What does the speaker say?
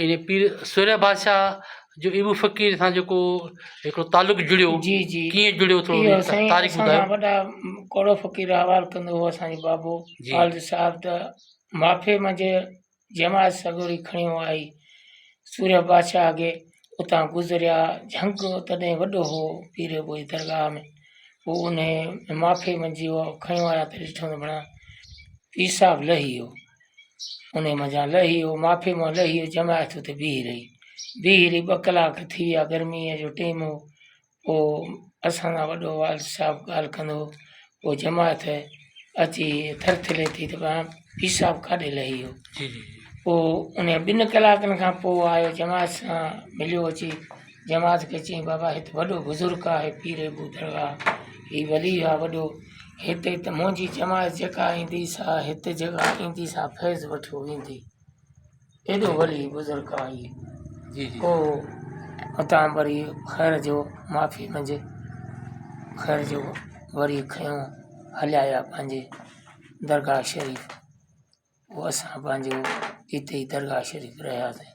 ان پير سوريا بادشاهه جو ايوب فقير سان جيڪو هڪڙو تعلق جڙيو جي جي ڪيئن جڙيو ٿورو اهو سائين تاريخ اسان ٻڌايو وڏا ڪوڙو فقير حوال ڪندو هو اسان جو بابو جي. والد صاحب ته معافي منجهه جماعت سڳوري کڻيو آئي سوريا بادشاهه اڳي اتان گذريا جهنگ تڏهن وڏو هو پير جو ڪوئي درگاهه ۾ پوء انهي معافي منجهه اهو کڻيو آيا ته ڏٺو ته بڻا پير صاحب لهي ويو انهيء منجهان لهي هو معافي مان لهي هو جماعت اتي بيهي رهي بيهي رهي ٻه ڪلاڪ ٿي ويا گرميء جو ٽيم هو پوء اسان سان وڏو والد صاحب ڳالهه ڪندو هو پوء جماعت اچي ٿرٿري ٿي ته پاڻ پير صاحب ڪاڏي لهي ويو جي جي جي پوء انهيء ٻن ڪلاڪن کان پوء آيو جماعت سان مليو اچي جماعت کي چيائين بابا هت وڏو بزرگ آهي پير ابو درگاهه هي ولي آهي وڏو هتي ته منهنجي جماعت جيڪا ايندي سا هت جيڪا ايندي سا فيض وٺي ويندي ايڏو ولي بزرگ آهي جي جي پوء اتان وري خير جو معافي منجهه خير جو وري کيون هليا ويا پنهنجي درگاهه شريف پوء اسان پنهنجو اتي ئي درگاهه شريف رهياسين